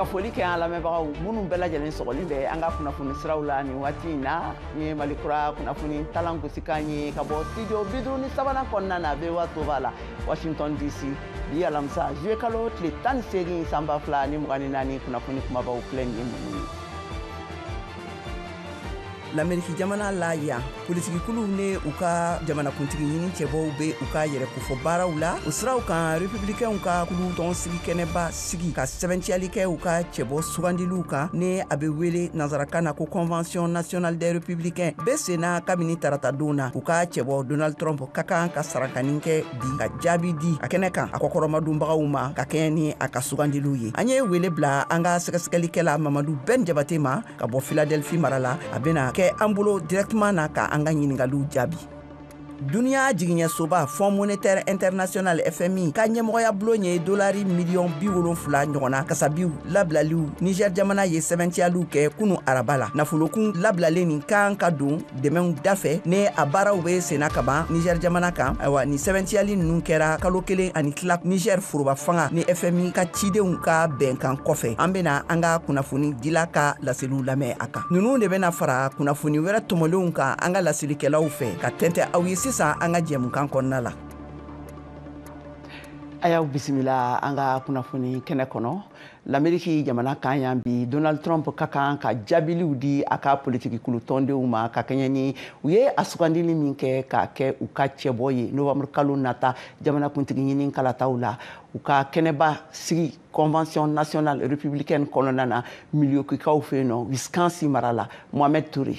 ka foli kɛ an lamɛnbagaw minnu bɛɛ lajɛlen sɔgɔlen bɛ an ka kunnafoni siraw la nin waati in na nin ye mali kura kunnafoni talan gosikan ye ka bɔ studio bi duuru ni sabanan kɔnɔna na voa toba la washington dc bi alamisa zuye kalo tile tan ni seegin san ba fila ni mugan ni naani kunnafoni kumabaw filɛ nin ye minnu ye lameriki jamana la yan politikikuluw ni u ka jamanakuntigi ɲini cɛbɔw be u ka yɛrɛ kofɔ baaraw la o siraw kan republikɛnw ka kulu tɔnsigi kɛnɛba sigi ka sɛbɛntiyali kɛ u ka cɛbɔ sugandiliw kan ni a be wele nansarakan na ko convention nationale des républicains be senna kabini tarata don na u ka cɛbɔ donald trump ka kan ka sarakanin kɛ bi ka jaabi di a kɛnɛ kan a kɔkɔrɔmadonbagaw ma ka kɛɲɛ ni a ka sugandiliw ye an ye wele bila an ka sɛgɛsɛgɛlikɛla mamadu bɛn jabate ma ka bɔ filadelfi mara la a bɛna kɛ an bolo dirɛkteman na ka an ka ɲiningaliw jaabi duniɲa jigiɲɛsoba fonds monétaire international fmi ka ɲɛmɔgɔya bulon ye dolari miliyɔn bi wolonfila ɲɔgɔnna kasabiw labilaliw niger jamana ye sɛbɛntiyaliw kɛ kunu araba la nafolokun labilalen nin kan ka don dɛmɛw dafɛ ni a baaraw bɛ senna ka ban niger jamana kan ayiwa nin sɛbɛntiyali ninnu kɛra kalo kelen ani tila niger foroba fanga ni fmi ka cidenw ka bɛnkan kɔfɛ an bena an ka kunnafonidila ka laseliw lamɛn a kan ninnu de bena fara kunnafoni wɛrɛ tɔmɔlenw kan an ka laselikɛlaw fɛ ka tɛntɛ aw ye sisan an ka jɛmukan kɔnɔna la a y'aw bisimila an ka kunnafoni kɛnɛ kɔnɔ lameriki jamana kan yan bi donald trump ka kan ka jaabiliw di a ka politikikulu tɔndenw ma ka kɛɲɛ ni u ye a sugandili min kɛ k'a kɛ u ka cɛbɔ ye novambre kalo nata jamanakuntigi ɲini kalataw la u ka kɛnɛba sigi convention nationale républicaine kɔnɔna na milwaukeekaw fɛ yen nɔ wisconsin mara la mohamed toure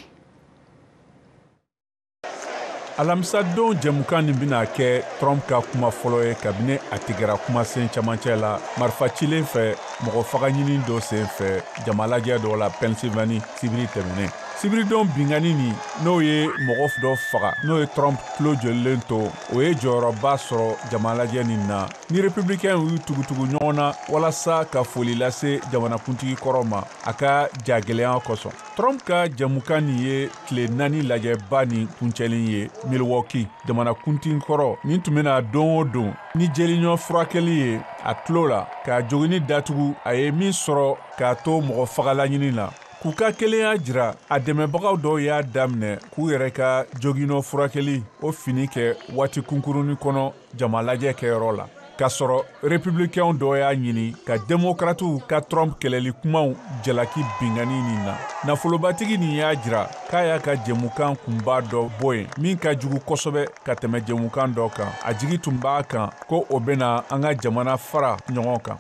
alamisadon jɛmukan nin bɛna kɛ trump ka kuma fɔlɔ ye kabini a tigɛra kumasen camancɛ la marifa cilen fɛ mɔgɔ fagaɲini dɔ sen fɛ jamalajɛ dɔ la pennsylvanie sibiri tɛmɛnen sibiridon binkanni nin n'o ye mɔgɔ dɔ faga n'o ye trump tulo jolilen to o ye jɔyɔrɔba sɔrɔ jamalajɛ nin na ni republikɛnw y'u tugutugu ɲɔgɔn na walasa ka foli lase jamanakuntigi kɔrɔ ma a ka jagɛlɛya kosɔn trump ka jɛmukan nin ye tile naani lajɛba nin kuncɛlen ye milwaukee jamanakuntigi kɔrɔ nin tun bɛ na don o don ni jelinɔ furakɛli ye a tulo la k'a joginni datugu a ye min sɔrɔ k'a to mɔgɔ fagalaɲini na k'u ka kelenya jira a dɛmɛbagaw dɔw y'a daminɛ k'u yɛrɛ ka joginɔ furakɛli o fini kɛ waati kunkurunnin kɔnɔ jamalajɛ kɛyɔrɔ la k'a sɔrɔ républicainw dɔ y'a ɲini ka demokratiw ka trump kɛlɛli kumaw jalaki binkanni nin na nafolobatigi nin y'a jira k'a y'a ka jɛmukan kunba dɔ bɔ yen min ka jugu kosɛbɛ ka tɛmɛ jɛmukan dɔ kan a jigi tun b'a kan ko o bɛna an ka jamana fara ɲɔgɔn kan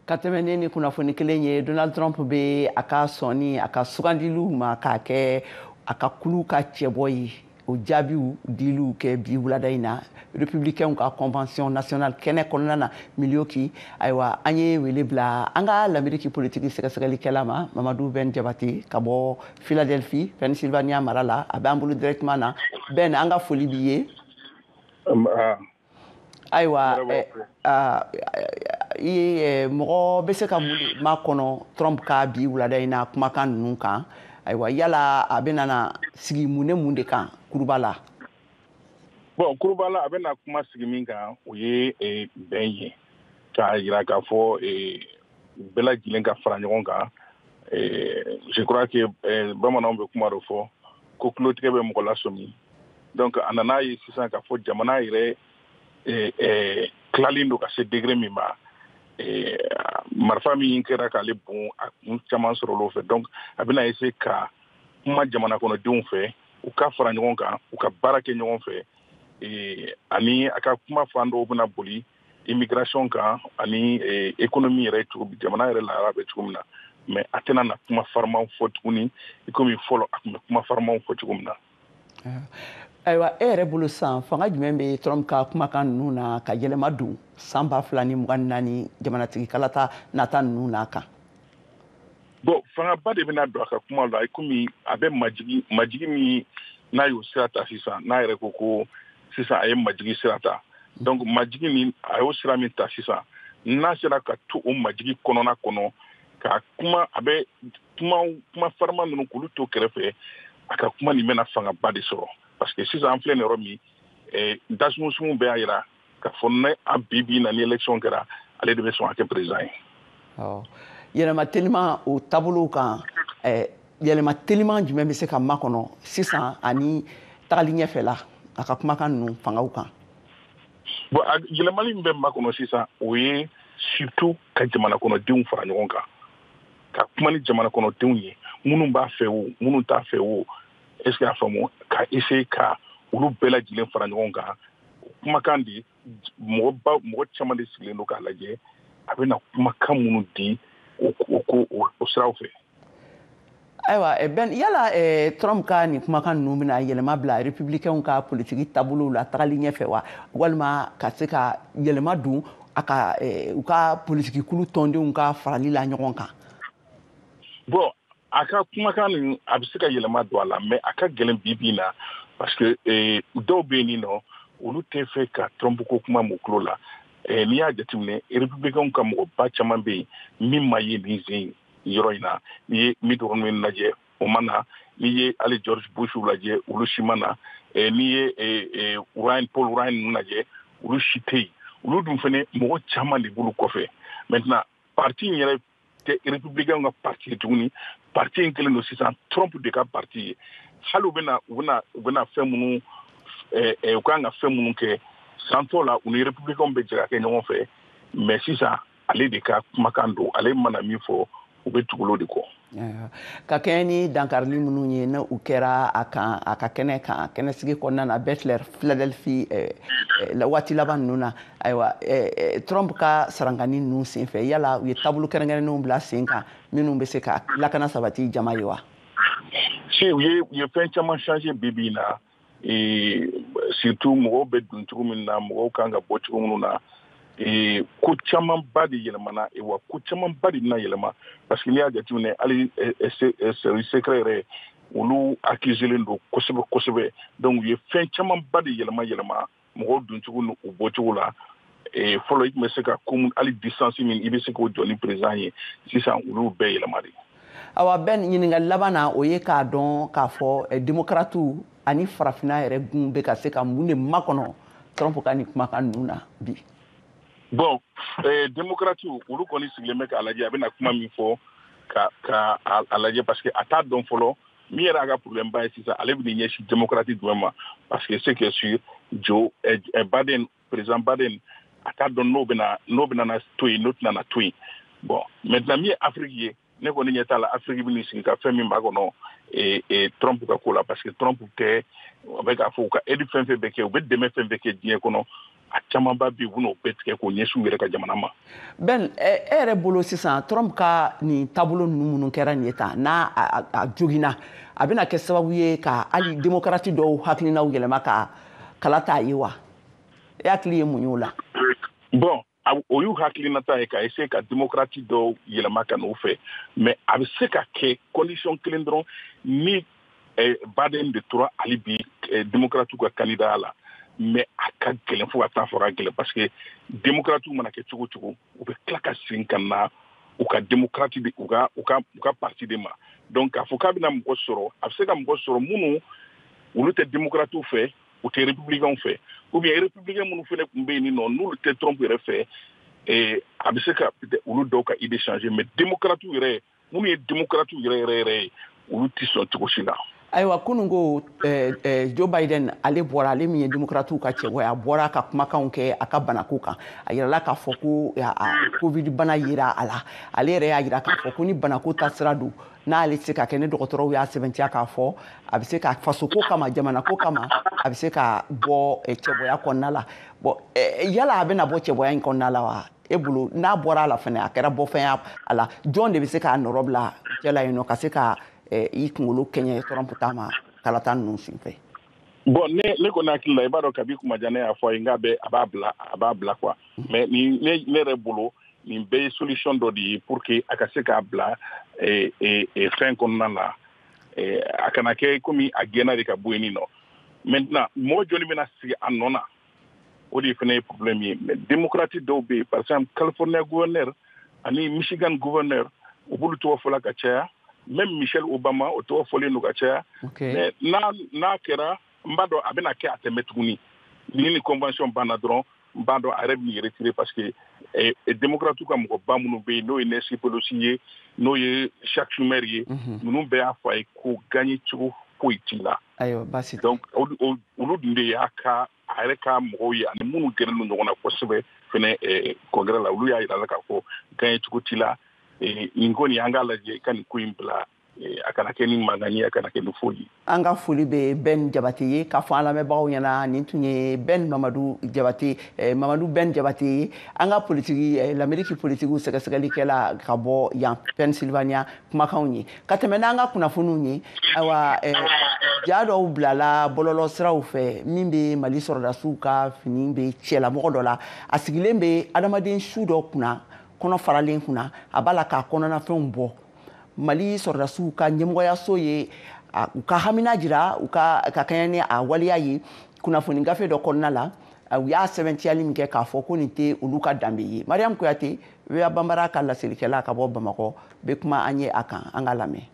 ka tɛmɛ ni nin kunnafoni kelen ye donald trump bɛ a ka sɔnni a ka sugandiliw ma k'a kɛ a ka kulu ka cɛbɔ ye o jaabiw dili kɛ bi wulada in na republicainw ka convention nationale kɛnɛ kɔnɔna na milwaukee ayiwa an ye wele bila an ka lameriki politiki sɛgɛsɛgɛlikɛla ma mamadu bɛn jabate ka bɔ philadelphie pennsylvania mara la a bɛ an bolo directement na bɛn an ka foli b'i ye ayiwa mɔgɔ bɛ se ka mun de makɔnɔ trump ka bi wulada in na kumakan ninnu kan ayiwa yala a bɛna na sigi mun ni mun de kan kuruba la bon kuruba la a bɛna kuma sigi min kan o ye bɛn ye k'a jira k'a fɔ bɛɛ lajɛlen ka fara ɲɔgɔn kan je crois que bamananw bɛ kuma dɔ fɔ ko tulotigɛ bɛ mɔgɔ lasɔmi donc a nan'a ye sisan k'a fɔ jamana yɛrɛ eh, eh, tilalen don ka se degré min ma eh, marifa min kɛra k'ale bon a kun caman sɔrɔl'o fɛ donc a bɛna essayer ka kuma jamana kɔnɔdenw fɛ u ka fara ɲɔgɔn kan u ka baara kɛ ɲɔgɔn fɛ eh, ani a ka kuma fan dɔw bɛna boli immigration kan ani eh, économie yɛrɛ cogo jamana yɛrɛ lahara bɛ cogo min na mais a tɛna na kuma farimaw fɔ tuguni i komi fɔlɔ a tun bɛ kuma farimaw fɔ cogo min na ayiwa e yɛrɛ bolo san fanga jumɛn bɛ trump ka kumakan ninnu na ka yɛlɛma don san ba fila ni mugan naani jamanatigi kalata nata ninnu n'a kan bon fangaba de bɛna don a ka kuma la komi a bɛ majigi majigi min n'a y'o sira ta sisan n'a yɛrɛ ko ko sisan a ye majigi sira ta donc majigi min a y'o sira min ta sisan n'a sera ka to o majigi kɔnɔna kɔnɔ ka kuma a bɛ kuma kuma farima ninnu k'olu to kɛrɛfɛ a ka kuma nin bɛna fangaba de sɔrɔ parce que sisan an filɛ nin yɔrɔ min eh, dasumusumu bɛɛ y'a jira k'a fɔ ni a bi bi na ni élection kɛra ale de bɛ sɔn ka kɛ président ye. awɔ yɛlɛma teliman o taabolow kan eh, yɛlɛma teliman jumɛn bɛ se ka makɔnɔ sisan ani tagali ɲɛfɛ la a ka kumakan ninnu fangaw kan. bon a yɛlɛmali min bɛ makɔnɔ sisan o ye surtout ka jamana kɔnɔdenw fara ɲɔgɔn kan ka kuma ni jamana kɔnɔdenw ye minnu b'a fɛ o minnu t'a fɛ o est ce que y'a faamu ka essayer ka olu bɛɛ lajɛlen fara ɲɔgɔn kan kumakan di mɔgɔ ba mɔgɔ caman de sigilen don k'a lajɛ a bɛna kumakan minnu di o ko o siraw fɛ ayiwa eh, ben yala eh, trump ka nin kumakan ninnu bɛna yɛlɛma bila republicainw ka politiki taabolow la tagali ɲɛfɛ wa walima ka se ka yɛlɛma don a ka eh, u ka politiki kulu tɔndenw ka farali la ɲɔgɔn kan bon a ka kumakan nin a bɛ se ka yɛlɛma don a la mais a ka gɛlɛn bi bi na parce que dɔw bɛ yen nɔ olu tɛ fɛ ka trump ko kuma m'u tulo la n'i y'a jateminɛ republicainw ka mɔgɔba caman bɛ yen min ma ye nin zen ye yɔrɔ in na n'i ye mitt romney lajɛ o ma na n'i ye hali george bush lajɛ olu si ma na eh, n'i ye eh, eh, ryan paul ryan ninnu lajɛ olu si tɛ yen olu dun fana mɔgɔ caman de b'olu kɔfɛ maintenant parti in yɛrɛ tɛ républicainw ka parti ye tuguni parti in kɛlen don sisan trump de ka parti ye hali u bɛna u bɛna u bɛna fɛn minnu u kan ka fɛn minnu kɛ san tɔ la u ni républicainw bɛ jɛ ka kɛ ɲɔgɔn fɛ mais sisan ale de ka kumakan don ale mana min fɔ u bɛ tugu o de kɔ ka kɛɲɛ ni dankarili minnu ye n'u kɛra a kan a ka kɛnɛ kan kɛnɛsigi kɔnɔna na butler filadelfi eh, eh, waati laban ninnu na ayiwa eh, trump ka sarangani ninnu senfɛ yala u ye taabolo kɛrɛnkɛrɛnnenw bila sen kan minnu bɛ se ka lakana sabati jama ye wa si u ye u ye fɛn caman changer bi bi in na surtout mɔgɔw bɛ don cogo min na mɔgɔw kan ka bɔ cogo minnu na ko camanba de yɛlɛmana wa ko camanba de bɛna yɛlɛma parce que n'i y'a jateminɛ hali service secret yɛrɛ olu accuselen don kosɛbɛ kosɛbɛ donc u ye fɛn camanba de yɛlɛma yɛlɛma mɔgɔw doncogo ni u bɔcogo la eh, fɔlɔ i tun bɛ se ka komi hali distance min i bɛ se k'o jɔ ni président ye sisan olu bɛɛ yɛlɛma de awa ben ɲininkali laban na o ye k'a dɔn k'a fɔ eh, demokratiw ani farafina yɛrɛ gun bɛ ka se ka mun de makɔnɔ trump ka nin kumakan ninnu na bi bon eh, demokratiw olu kɔni sigilen bɛ k'a lajɛ a bɛna kuma min fɔ ka ka a lajɛ parce que a t'a dɔn fɔlɔ min yɛrɛ a ka problème ba ye sisan ale bɛn'i ɲɛsin démocrate jumɛn ma parce que ce qui est sûr joe eh, eh, biden président biden a t'a dɔn n'o bɛna n'o bɛna na to yen n'o tɛna na to yen bon maintenant min ye afrique ye ne kɔni ɲɛ t'a la afrique bɛn'i sigi ka fɛn min makɔnɔ eh, eh, trump ka ko la parce que trump tɛ a bɛ k'a fɔ u ka aide fɛn fɛn bɛ kɛ u bɛ dɛmɛ fɛn fɛn kɛ diɲɛ kɔnɔ a camanba bɛ yen u bɛn'o bɛɛ tigɛ k'o ɲɛsin u yɛrɛ ka jamana ma. Ben e yɛrɛ bolo sisan Trump ka nin taabolo ninnu minnu kɛra nin ye tan n'a a joginna a bɛna kɛ sababu ye ka hali demokarati dɔw hakilinaw yɛlɛma ka kala t'a ye wa? E hakili ye mun y'o la? Bon o y'u hakilinata ye ka essayer ka demokarati dɔw yɛlɛma ka n'u fɛ mais a bɛ se ka kɛ condition kelen dɔrɔn ni eh, biden de tora hali bi eh, demokratiw ka kandidaya la mais a ka gɛlɛn fo ka taa fɔ ka gɛlɛn parce que demokratiw mana kɛ cogo cogo u bɛ tila ka segin ka na u ka demokrati de u ka u ka u ka parti de ma donc k'a fɔ k'a bɛna mɔgɔ sɔrɔ a bɛ se ka mɔgɔ sɔrɔ minnu olu tɛ demokratiw fɛ u tɛ republicainw fɛ ou bien republicain minnu fana tun bɛ yen nɔ n'olu tɛ trump yɛrɛ fɛ eh, a bɛ se ka olu dɔw ka idée changer mais demokratiw yɛrɛ minnu ye démocrate yɛrɛ yɛrɛ yɛrɛ ye olu tɛ sɔn cogo si la ayiwa kunun ko eh, eh, joe biden ale bɔra ale min ye démocratiw ka cɛbɔ ye a bɔra ka kumakanw kɛ a ka banako kan a yirala k'a fɔ ko eh, a covid bana yera a la ale yɛrɛ y'a yira k'a fɔ ko ni banako ta sira don n'ale tɛ ka kɛnɛ dɔgɔtɔrɔw y'a sɛbɛntiya k'a fɔ a bɛ se ka fasoko kama jamanako kama a bɛ se ka bɔ cɛbɔya kɔnɔna la bon yala a bɛna bɔ cɛbɔya in kɔnɔna la wa e bolo n'a bɔra a la fana a kɛra bɔfɛn ye a la jɔn de bɛ se k'a nɔrɔ bila cɛ la yen nɔ ka se ka eh, i kunkolo kɛɲɛ trump ta ma kalata ninnu sen fɛ bon ne ne kɔni hakili la i b'a dɔn kabi kuma jan ne y'a fɔ a ye n k'a bɛ a b'a bila a b'a bila quoi mais nin ne ne yɛrɛ bolo nin bɛɛ ye solution dɔ de ye pour que a ka se k'a bila eh, eh, eh, fɛn kɔnɔna na a kana kɛ komi a gɛnna de ka bɔ yen nin nɔ maintenant mɔgɔ jɔni bɛna sigi a nɔ na o de fana ye problème ye mais démocrate dɔw bɛ yen par exemple california gouverneur ani michigan gouverneur u b'olu tɔgɔ fɔla ka caya même michelle obama o tɔgɔ fɔlen don ka caya mais n'a n'a kɛra n b'a dɔn a bɛna kɛ a tɛ mɛɛn tuguni ni ni convention banna dɔrɔn n b'a dɔn a yɛrɛ b'i retirer parce que eh, eh, démocrate ka mɔgɔba minnu bɛ yen n'o ye nancy pelosi ye n'o ye chuck schumer ye ninnu bɛɛ y'a fɔ a ye ko gagner cogo foyi t'i la donc o olu dun de y'a ka a yɛrɛ ka mɔgɔw ye ani minnu gɛrɛlen don ɲɔgɔn na kosɛbɛ fɛnɛ eh, congrès la olu y'a yira a la k'a fɔ gagner cogo t'i la eh, nin ko nin an k'a lajɛ i ka nin ko in bila eh, a kana kɛ ni mankan ye a kana kɛ ni foyi an ka foli bɛ bɛn jabate ye k'a fɔ an lamɛnbagaw ɲɛna nin tun ye bɛn mamadu jabate mamadu bɛn jabate ye an ka politiki lameriki politikiw sɛgɛsɛgɛlikɛla ka bɔ yan pennsylvania kumakanw ye ka tɛmɛ n'an ka kunnafoniw ye ayiwa eh, ja dɔw bilala bɔlɔlɔ siraw fɛ min bɛ mali sɔrɔdasiw ka fini bɛ cɛlamɔgɔ dɔ la a sigilen bɛ adamaden su dɔ kunna kɔnɔ faralen kunna a b'a la k'a kɔnɔnafɛnw bɔ mali sɔrɔdasiw ka ɲɛmɔgɔyaso ye u ka hamina jira u ka ka kɛɲɛ ni a waleya ye kunnafoni gafe dɔ kɔnɔna la u y'a sɛbɛntiyali min kɛ k'a fɔ ko nin tɛ olu ka danbe ye mariyamu kuyate voa banbara ka laselikɛla ka bɔ bamakɔ bɛ kuma an ye a kan an ka lamɛn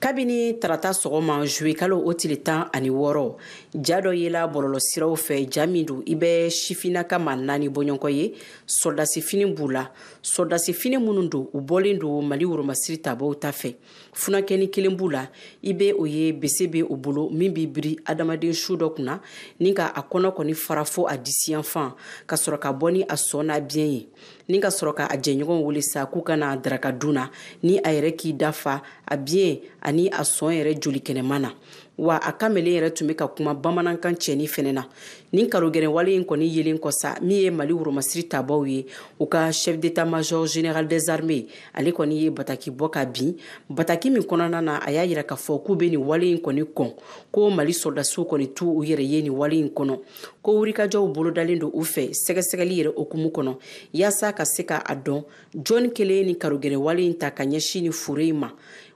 kabini tarata sɔgɔma zuwekalo o tile tan ani wɔɔrɔ ja dɔ yela bɔlɔlɔ siraw fɛ ja min don i bɛ sifinaka maa naani bɔɲɔgɔnko ye sɔrɔdasifini b'u la sɔrɔdasifini minnu don u bɔlen don mali woromasiri tabaw ta fɛ funakɛni kelen b'u la i be o ye bese be o bolo min b'i biri adamaden su dɔ kunna ni ka a kɔnɔ kɔni fara fo a disi yanfan ka sɔrɔ ka bɔ ni a sɔn n'a biɲɛ ye ni ka sɔrɔ ka a jɛɲɔgɔn wele sa k'u ka na daraka dun na ni a yɛrɛ k'i da fa a biɲɛ ani a sɔn yɛrɛ joli kɛnɛman na wa a kamelen yɛrɛ tun bɛ ka kuma bamanankan cɛni fɛnɛ na nin karogɛlɛnwale in kɔni yelen kɔ sa min ye mali woromasiri tabaw ye u ka chef d'état major général des armées ale kɔni ye bataki bɔ ka bin bataki min kɔnɔna na a y'a yira k'a fɔ k'u bɛ nin wale in kɔni kɔn ko mali sɔrɔdasiw kɔni t'u yɛrɛ ye nin wale in kɔnɔ ko wulikajɔw bolodalen don u fɛ sɛgɛsɛgɛli yɛrɛ hukumu kɔnɔ yaasa ka se ka a dɔn jɔni kelen ye nin karogɛlɛnwale in ta ka ɲɛsin nin fure in ma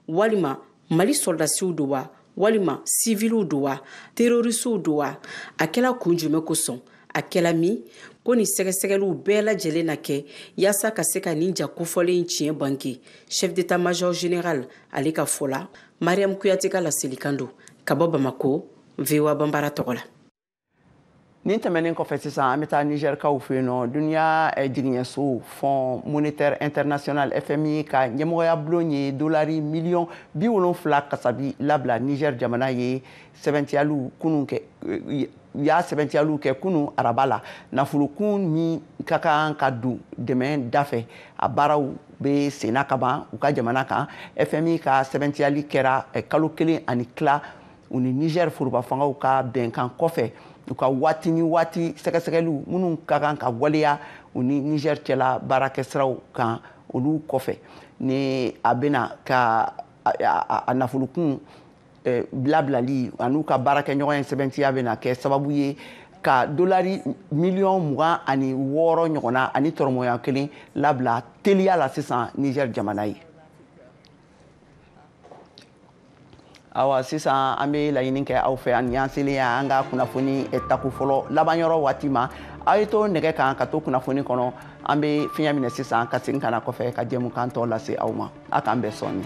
walima mali sɔrɔdasiw don wa walima siviliw don wa terorisiw don wa a kɛla kun jumɛn kosɔn a kɛla min ko nin sɛgɛsɛgɛliw bɛɛ lajɛlen na kɛ yaasa ka se ka nin ja kofɔlen tiɲɛ bange chef d'état major général ale ka fɔ la mariam kuyate ka laselikan don ka bɔ bamako voa banbara tɔgɔ la nin tɛmɛnen kɔfɛ sisan an bɛ taa nizɛrikaw fɛ yen nɔ duniya eh, jigiɲɛso fonds monétaire international fmi ka ɲɛmɔgɔyabulon ye dolari miliyɔn bi wolonfila kasabi labila nizɛr jamana ye sɛbɛntiyaliw kunun kɛ eh, u y'a sɛbɛntiyaliw kɛ kunun araba la nafolokun min ka kan ka don dɛmɛ da fɛ a baaraw bɛ senna ka ban u ka jamana kan fmi ka sɛbɛntiyali kɛra eh, kalo kelen ani tila u ni nigɛr forobafangaw ka bɛnkan kɔfɛ u ka waati ni waati sɛgɛsɛgɛliw minnu ka kan ka waleya u ni nigɛr cɛla baarakɛsiraw kan olu kɔfɛ ni a bɛna ka a nafolokun eh, bilabilali an'u ka baarakɛɲɔgɔnya sɛbɛntiya bɛna kɛ sababu ye ka dolari miliyɔn mugan ani wɔɔrɔ ɲɔgɔnna ani tɔrɔmɔya kelen labila teliya la sisan nigɛr jamana ye awa sisan an bɛ laɲini kɛ aw fɛ ani y'an selen ye an ka kunnafoni eh, tako fɔlɔ laban yɔrɔ waati ma aw ye to nɛgɛ kan ka to kunnafoni kɔnɔ an bɛ fiɲɛ minɛ sisan ka segin ka na kɔfɛ ka jɛmukan tɔ lase aw ma a k'an bɛn sɔɔni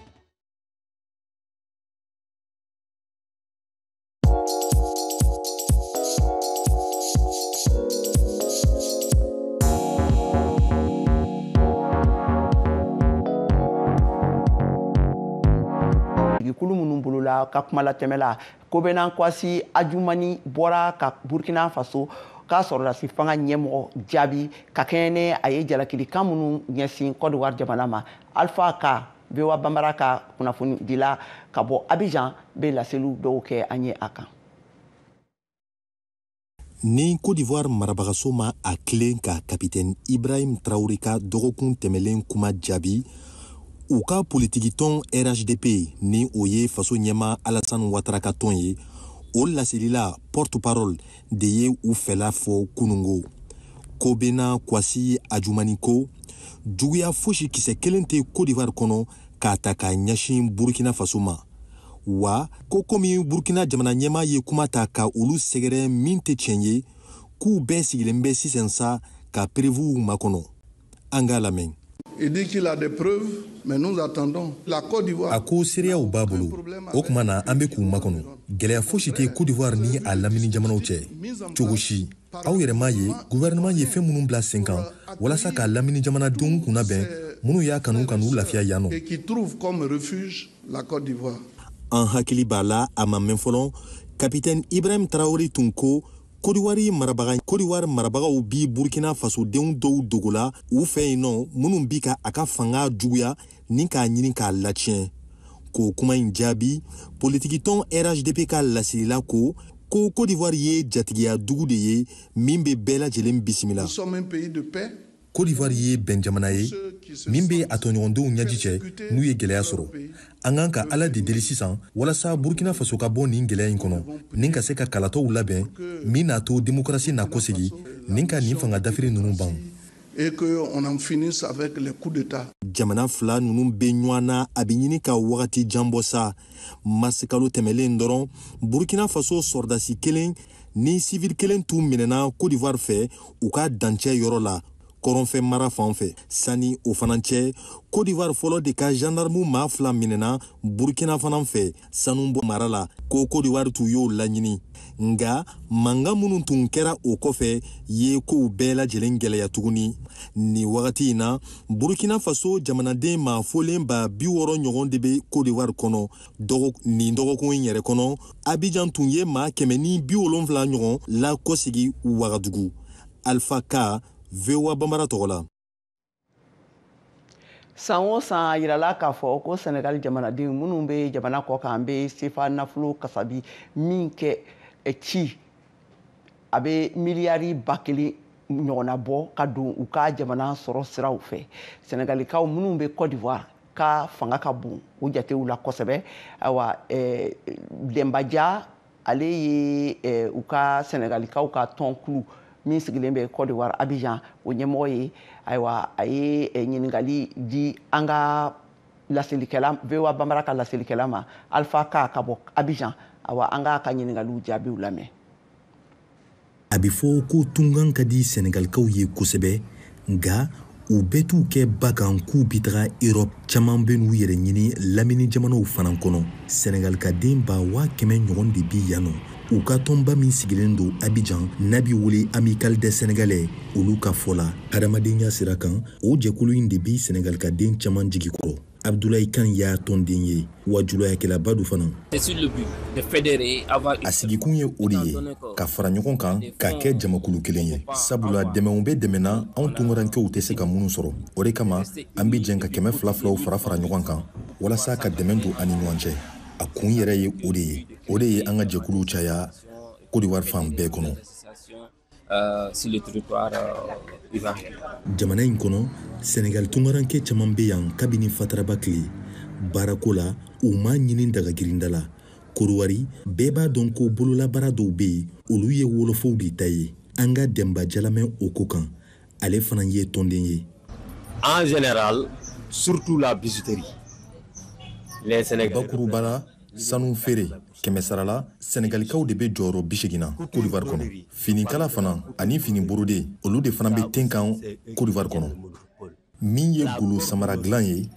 sigikulu minnu bolo la ka kumalatɛmɛla kobenan kwasi ajumani bɔra ka burkina faso ka sɔrɔdasi fanga ɲɛmɔgɔ jaabi ka kɛɲɛ ni a ye jalakilikan minnu ɲɛsin kɔdiwari jamana ma alpha ka voa banbara ka kunnafonidila ka bɔ abijan bɛ laseliw dɔw kɛ an ye a kan ni cote d'ivoire marabagaso ma a tilen ka kapitɛni ibrahim traore ka dɔgɔkun tɛmɛlen kuma jaabi u ka politikitɔn rhdp ni o ye faso ɲɛma alasan watara ka tɔn ye o laselila porte parole de ye u fɛla fɔ kunungo kobena kwasi ajumani ko juguya fosi kisɛ kelen tɛ kodivar kɔnɔ k'a ta ka ɲɛsin burkina faso ma wa ko komi burkina jamana ɲɛma ye kuma ta ka olu sɛgɛrɛ min tɛ tiɲɛ ye k'u bɛɛ sigilen bɛ sisan sa ka perevuw makɔnɔ An k'a lamɛn. Il dit qu'il a des preuves, mais nous attendons. La Côte d'Ivoire. A ko seereyaw b'a bolo. O tuma na an bɛ k'u makɔnɔ. Gɛlɛya fosi tɛ Côte d'Ivoire ni a lamini jamanaw cɛ. Cogo si. Aw yɛrɛ m'a ye gouvernement ye fɛn minnu bila sen kan walasa ka lamini jamanadenw kunna bɛn minnu y'a kanu ka n'u lafiya yan nɔ. Et qui trouve comme refuge la Côte d'Ivoire. An hakili b'a la a ma mɛn fɔlɔ, capitaine Ibrahim Traoré tun ko kodiwari marabagaw bi burkina fasodenw dɔw dogola u fɛ yen nɔ minnu bi ka a ka fanga juguya ni k'a ɲini k'a latiɲɛ k'o kuma in jaabi politikitɔn rhdp ka laselila ko ko kodiwari ye jatigiya dugu de ye min bɛ bɛɛ lajɛlen bisimila Cote d'Ivoire ye bɛnjamana ye min bɛ a tɔɲɔgɔndenw ɲɛji cɛ n'u ye gɛlɛya sɔrɔ. An kan ka Ala de deli sisan walasa Burkina Faso ka bɔ nin gɛlɛya in kɔnɔ, ni ka se ka kalataw labɛn min n'a to demokarasi na kɔsegin, ni ka nin fanga dafiri ninnu ban. Et qu'on en finisse avec les coups d'État. Jamana fila ninnu bɛ ɲɔgɔn na, a bɛ ɲini ka wagati jan bɔ sa. mars kalo tɛmɛlen dɔrɔn burkina faso sɔrɔdasi kelen ni sivili kelen tun minɛna cote d'ivoire fɛ u ka dancɛ yɔrɔ la kɔrɔnfɛ mara fan fɛ sani o fana cɛ cote d'ivoire fɔlɔ de ka gendarme maa fila minɛna burkina fana fɛ sanu bɔ mara la ko cote d'ivoire tun y'o laɲini nka mankan minnu tun kɛra o kɔfɛ ye kow bɛɛ lajɛlen gɛlɛya tuguni nin wagati in na burkina faso jamanaden maa fɔlen ba bi wɔɔrɔ ɲɔgɔn de bɛ kodiwari kɔnɔ nin dɔgɔkun in yɛrɛ kɔnɔ abijan tun ye maa kɛmɛ ni bi wolonwula ɲɔgɔn lakɔsegi wagadugu alfa ka voa banbara tɔgɔ la san o san a yirala k'a fɔ ko sɛnɛgali jamanadenw minnu bɛ jamana kɔ kan bɛ sefa nafolo kasabi min kɛ eh, ci a bɛ miliyari ba kelen ɲɔgɔnna bɔ ka don u ka jamana sɔrɔ siraw fɛ sɛnɛgalikaw minnu bɛ cote d'ivoire ka fanga ka bon o jatew la kosɛbɛ awa eh, dɛnbaja ale ye eh, u ka sɛnɛgalikaw ka tɔnkulu min sigilen bɛ Côte d'Ivoire Abidjan o ɲɛmɔgɔ ye ayiwa a ye eh, ɲininkali di an ka laselikɛla VOA Bambara ka laselikɛla ma Alpha Ka ka bɔ Abidjan awa an k'a ka ɲininkaliw jaabiw lamɛn a bɛ fɔ ko tunkan ka di sɛnɛgalikaw ye kosɛbɛ nka u bɛɛ t'u kɛ ba kan k'u bi taga erɔp caman bɛ n'u yɛrɛ ɲini lamini jamanaw fana kɔnɔ sɛnɛgalikaden ba waa kɛmɛ ɲɔgɔn de bi yan nɔ u ka tɔnba min sigilen don abijan n'a bɛ wele Amicale des Sénégalais olu ka fɔ la hadamadenya sira kan o jɛkulu in de bi sɛnɛgalikaden caman jigi kɔrɔ Abdoulaye Kane y'a tɔnden ye wa julayakɛlaba don fana. A sigikun ye o de ye ka fara ɲɔgɔn kan ka kɛ jamakulu kelen ye sabula dɛmɛw bɛ dɛmɛ na anw tunkarankew tɛ se ka minnu sɔrɔ o de kama an bɛ jɛn ka kɛmɛ fila filaw fara fara ɲɔgɔn kan walasa ka dɛmɛ don an ni ɲɔgɔn cɛ a kun yɛrɛ ye o de ye o de ye an ka jɛkuluw caya Côte d'Ivoire fan bɛɛ kɔnɔ. Euh, sur le territoire euh, ivoirien. jamana in kɔnɔ sɛnɛgali tungaranke caman bɛ yan kabini fataraba tile baarako la u m'a ɲini dagagirinda la korowari bɛɛ b'a dɔn ko bololabaara dɔw bɛ yen olu ye wolofow de ta ye an ka Demba Dia lamɛn o ko kan ale fana ye tɔnden ye en général surtout la bijouterie les sénégalais bakurubala sanu feere kɛmɛsarala sɛnɛgalikaw de bɛ jɔyɔrɔ bisegin na Côte d'Ivoire kɔnɔ finikala fana ani fini borode olu de fana bɛ ten kan Côte d'Ivoire kɔnɔ min ye golo samara dilan ye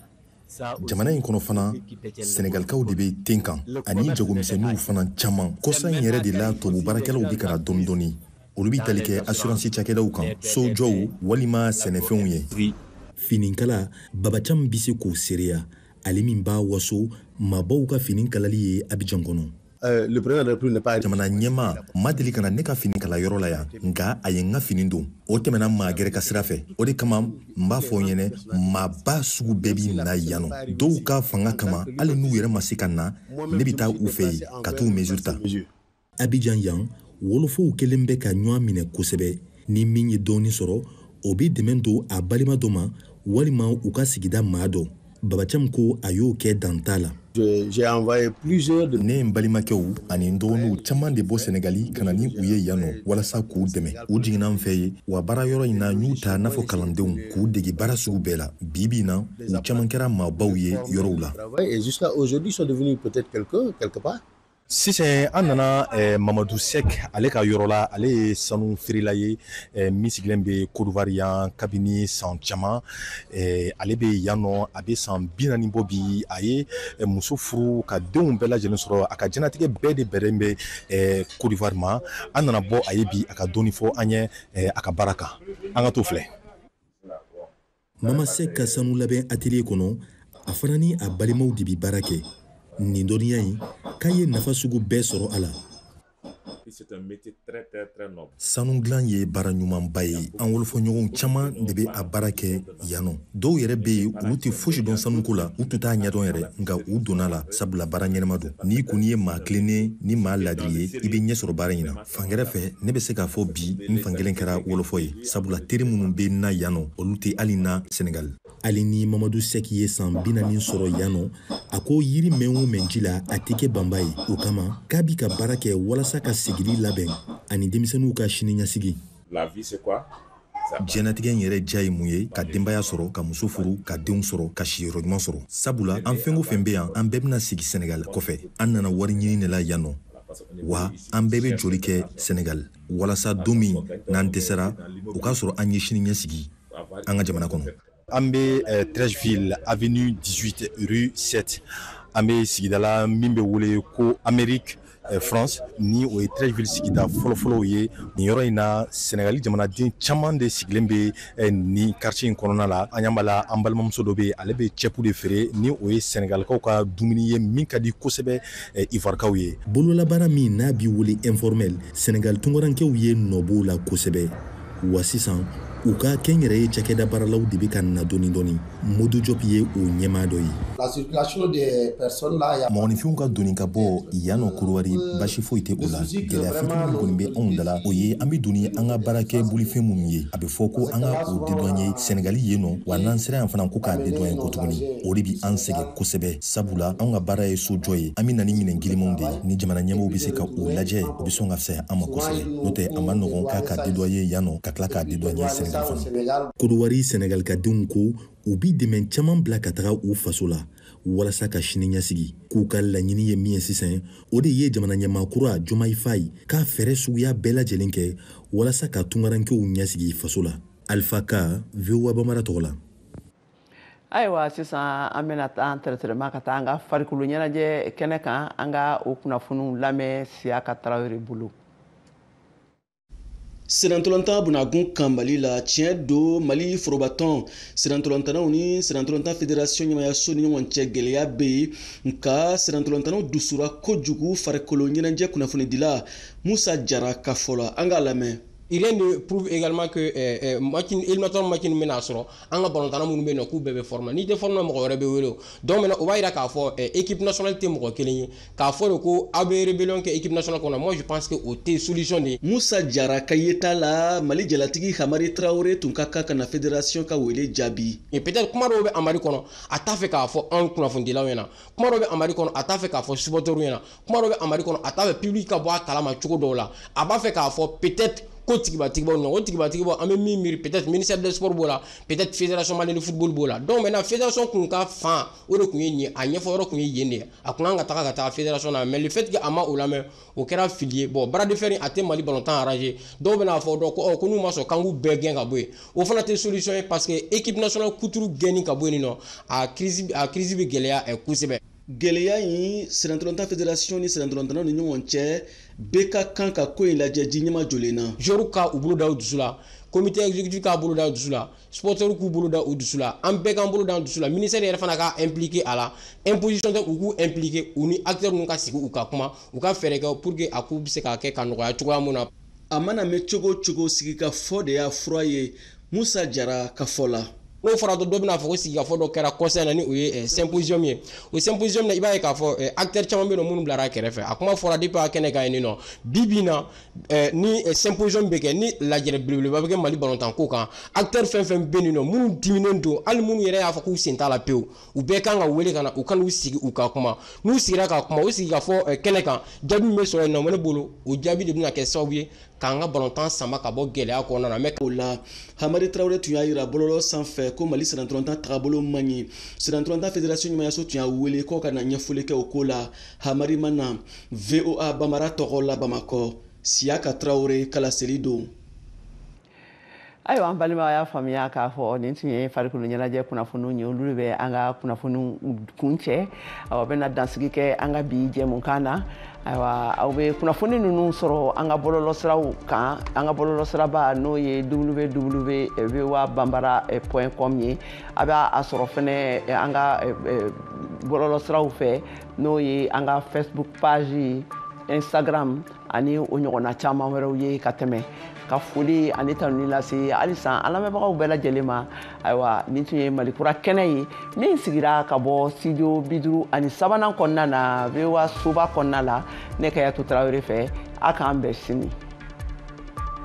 jamana in kɔnɔ fana sɛnɛgalikaw de bɛ ten kan ani jagomisɛnninw fana caman kɔsa in yɛrɛ de la tubabu baarakɛlaw bɛ ka na dɔɔni dɔɔni olu bɛ tali kɛ asuransi cakɛdaw kan sojɔw walima sɛnɛfɛnw ye fininkala Baba Thiam bɛ se k'o seereya ale min b'a waso maabaw ka fini kalali ye abijan kɔnɔ eh, jamana ɲɛmaa ma deli ka na ne ka fini kala yɔrɔ la yan nka a ye n ka fini don o tɛmɛna maa gɛrɛ ka sira fɛ o de kama n b'a fɔ ɲɛnɛ maaba sugu bɛɛ bi na yan nɔ dɔw ka fanga kama hali n'u yɛrɛ ma se ka na ne bɛ taa u fɛ yen ka t'u mesure ta abijan yan wolofow kelen bɛ ka ɲɔgɔn minɛ kosɛbɛ ni min ye dɔɔni sɔrɔ o bɛ dɛmɛ don a balima dɔ ma walima u ka sigida maa dɔ Baba Thiam ko a y'o kɛ dan t'a la ne ye n balimakɛw ani n dɔgɔninw caman de bɔ sɛnɛgali ka na ni u ye yan nɔ walasa k'u dɛmɛ u jiginna n fɛ ye wa baara yɔrɔ in na n y'u ta n'a fɔ kalandenw k'u dege baara sugu bɛɛ la bi bi in na u caman kɛra maabaw ye yɔrɔw la sisan an nana eh, mamadu sɛk ale ka yɔrɔ la ale ye sanu feerela ye eh, min sigilen bɛ kodowari yan kabini san caman eh, ale bɛ yan nɔ a bɛ san bi naani bɔ bi a ye eh, muso furu ka denw bɛɛ lajɛlen sɔrɔ a ka jɛnatigɛ bɛɛ de bɛnnen bɛ eh, kodowari ma an nana bɔ a ye bi a ka dɔɔni fɔ an ye eh, a ka baara kan an ka t'o filɛ Mama Sɛk ka sanu labɛn atelier kɔnɔ, a fana ni a balimaw de bɛ baara kɛ nin dɔnniya in k'a ye nafa sugu bɛɛ sɔrɔ a la. Sanu dilan ye baara ɲumanba ye. An wolofɔɲɔgɔnw caman de bɛ a baara kɛ yan nɔ. Dɔw yɛrɛ bɛ yen, olu tɛ fosi dɔn sanuko la, u tun t'a ɲɛdɔn yɛrɛ, nka u donn'a la sabula baara ɲɛnama don. N'i kɔni ye maa tilennen ni maa laadiri ye, i bɛ ɲɛsɔrɔ baara in na. fan gɛrɛ fɛ ne bɛ se k'a fɔ bi n fan kelen kɛra wolofɔ ye sabula teri minnu bɛ n na yan nɔ olu tɛ hali n na senegali hali ni mamadu sɛki ye san bi naani sɔrɔ yan nɔ a ko yiri mɛn o mɛn ji la a tɛ kɛ banba ye o kama k'a bi ka baara kɛ walasa ka seginni labɛn ani denmisɛnninw ka siniɲɛsigi jɛnatigɛ in yɛrɛ diya ye mun ye ka denbaya sɔrɔ ka muso furu ka denw sɔrɔ ka siyɔrɔ ɲuman sɔrɔ sabula an fɛn o fɛn be yan an bɛɛ bena sigi senegal kɔfɛ an nana wari ɲini de la yan nɔ wa an bɛɛ be jɔli kɛ senegal walasa don min n'an dɛsɛra o k'a sɔrɔ an ye sini ɲɛsigi an ka jamana kɔnɔ an bɛ eh, treichville avenue 18 rue 7 an bɛ sigida la min bɛ wele ko amérique eh, france ni o ye treichville sigida fɔlɔfɔlɔw ye nin yɔrɔ in na sɛnɛgali jamanaden caman de sigilen bɛ eh, nin quartier in kɔnɔna la an y'an bala an balimamuso dɔ bɛ yen ale bɛ cɛpu de feere ni o ye sɛnɛgalikaw ka dumuni ye min ka di kosɛbɛ ivarikaw ye bololabaara min n'a bi wele informel sɛnɛgali tunkarankew ye nɔ b'o la kosɛbɛ wa sisan u ka kɛnyɛrɛye cakɛda baaralaw de bɛ ka na dɔɔni dɔɔni modu jɔp ye o ɲɛmaa dɔ ye mɔgɔninfinw ka don ni ka bɔ yan nɔ kodowari basi foyi tɛ o la gɛlɛya fitini min kɔni bɛ anw da la o ye an bɛ don ni an ka baarakɛ bolifɛn minnu ye a bɛ fɔ ko an ka o dédouaner sɛnɛgali yen nɔ wa n'an sera yan fana ko k'a dédouaner ko tuguni o de bɛ an sɛgɛn kosɛbɛ sabula anw ka baara ye sojɔ ye an bɛ na ni minɛn girimanw de ye ni jamana ɲɛmɔgɔw bɛ se ka o lajɛ o bɛ sɔn ka fisaya an ma kosɛbɛ n'o tɛ a ma nɔgɔn k'a ka dédouaner yan nɔ ka tila k'a dédouaner senegal fana kodowari senegali ka denw ko u bi dɛmɛ caman bila ka taga u faso la walasa ka sini ɲɛsigi k'u ka laɲini ye min ye sisan o de ye jamana ɲɛmaa kura jomayi fayi ka fɛɛrɛ suguya bɛɛ lajɛlen kɛ walasa ka tungarankew ɲɛsigi faso la alifa ka voa bambara tɔgɔ la ayiwa sisan an bɛna taa an tɛrɛtɛrɛma ka taa an ka farikolo ɲɛnajɛ kɛnɛ kan an ka o kunnafoniw lamɛn siyaka tarawele bolo sennantolontan bunakun kan mali la tiɲɛ don mali forobatɔn sennantolontannaw ni sennantolontan federasiyɔn ɲɛmaayaso ni ɲɔgɔn cɛ gwɛlɛya bɛ yen nka sennantolontannaw dusura kojugu farikolo ɲɛnajɛ kunnafonidila musa jara ka fɔ la an k'a lamɛn Il est de prouve également que euh, euh, match min, éliminatoire match min bɛna sɔrɔ an ka balontanna minnu bɛ yen nɔ k'u bɛɛ bɛ forme na n'i tɛ forme na mɔgɔ wɛrɛ bɛ wele donc maintenant o b'a yira k'a fɔ eh, équipe nationale tɛ mɔgɔ kelen ye k'a fɔ de ko aw bɛ rébellion kɛ équipe nationale kɔnɔ moi je pense que o tɛ solution de ye. musa jara ka yeta la mali jalatigi hamari tarawele tun ka kan ka na fédération ka wele jaabi. et peut-être kuma dɔw bɛ hamari kɔnɔ a t'a fɛ k'a fɔ anw kunnafonidilaw ɲɛna kuma dɔw bɛ hamari kɔnɔ a t'a fɛ k'a fɔ supporteurs ɲɛna kuma dɔ bɛ hamari kɔnɔ a t'a fɛ public ka bɔ a kalama cogo dɔw la a b'a fɛ k'a fɔ peut-être ko tigibatigibaw nɔ o tigibatigibaw an bɛ min miiri peut-être ministère des sports b'o la peut-être fédération malienne de football b'o la donc maintenant fédération kun ka fan o de kun ye nin ye a ɲɛfɔ yɔrɔ kun ye yen de ye a kun kan ka taga ka taa fédération na mais le fait que a ma o lamɛn o kɛra fili ye bon bras de fer a tɛ mali balontan arranger dɔw bɛna fɔ dɔn ko ɔ ko n'u ma sɔn k'an k'u bɛɛ gɛn ka bɔ yen o fana tɛ solution ye parce que équipe nationale kuturu gɛnni ka bɔ yen nɔ a crise a crise bɛ gɛlɛya kosɛbɛ gɛlɛya in sennantolontan federasiyɔn ni sennantolontannaw ni ɲɔgɔn cɛ bɛɛ ka kan ka ko in lajɛ ji ɲɛmajɔlen na joueurs ka u bolo da u dusu la comité exécutif k'a bolo da u dusu la supportɛriw k'u bolo da u dusu la an bɛɛ k'an bolo da an dusu la ministère yɛrɛ fana ka impliqué a la imposition tɛ u k'u impliqué u ni acteurs ninnu ka sigi u ka kuma u ka fɛɛrɛ kɛ pour que a ko bɛ se ka kɛ ka nɔgɔya cogoya mun na a mana mɛn cogo cogo sigikafɔ de y'a fura ye musa jara ka fɔ la n'o fɔra dɔrɔn dɔ bɛna fɔ ko sigikafɔ dɔ kɛra kɔsa in na ni o ye eh, symposium ye o symposium na i b'a ye k'a fɔ eh, acteur caman bɛ yen nɔ minnu bilara kɛrɛfɛ a kuma fɔra depuis a kɛnɛ kan yen nɔ bi bi in na eh, ni symposium bɛ kɛ ni lajɛrɛ belebeleba bɛ kɛ mali balontan ko kan acteur fɛn fɛn bɛ yen nɔ minnu diminnen don hali minnu yɛrɛ y'a fɔ k'u sen t'a la pewu u bɛɛ kan ka wele ka na u ka n'u sigi u ka kuma n'u sigira ka kuma u sigikafɔ eh, kɛnɛ kan jaabi min bɛ sɔrɔ yen nɔ ne bolo o jaabi de bɛna kɛ sababu ye k'an ka balontan sama ka bɔ gɛlɛya kɔnɔna na mɛ o la hamari tarawele tun y'a jira bɔlɔlɔ sanfɛ ko mali sennantolontan tagabolo man ɲi sennantolontan federasiɔn ɲɛmaayaso tun y'a wele k'o ka na ɲɛfɔli kɛ o ko la hamari ma na voa bambara tɔgɔ la bamakɔ siyaka tarawele ka laseli don ayiwa an balimaw a y'a faamuya k'a fɔ nin tun ye farikolo ɲɛnajɛ kunnafoniw ye olu de bɛ an ka kunnafoniw kuncɛ o bɛna dansigi kɛ an ka bi jɛmukan na ayiwa aw bɛ kunnafoni ninnu sɔrɔ an ka bɔlɔlɔsiraw kan an ka bɔlɔlɔsiraba n'o ye www voa bambara eh, point com ye a bɛ a sɔrɔ fɛnɛ eh, an ka eh, bɔlɔlɔsiraw fɛ n'o ye an ka facebook page instagram ani o ɲɔgɔnna caman wɛrɛw ye ka tɛmɛ ka foli ani tanuni lase halisa an lamɛnbagaw bɛɛ lajɛlen ma ayiwa nin tun ye malikura kɛnɛ ye min sigira ka bɔ studio biduru ani sabanan kɔnɔna na voa soba kɔnɔna la ne kajatu tarawele fɛ a k'an bɛn sini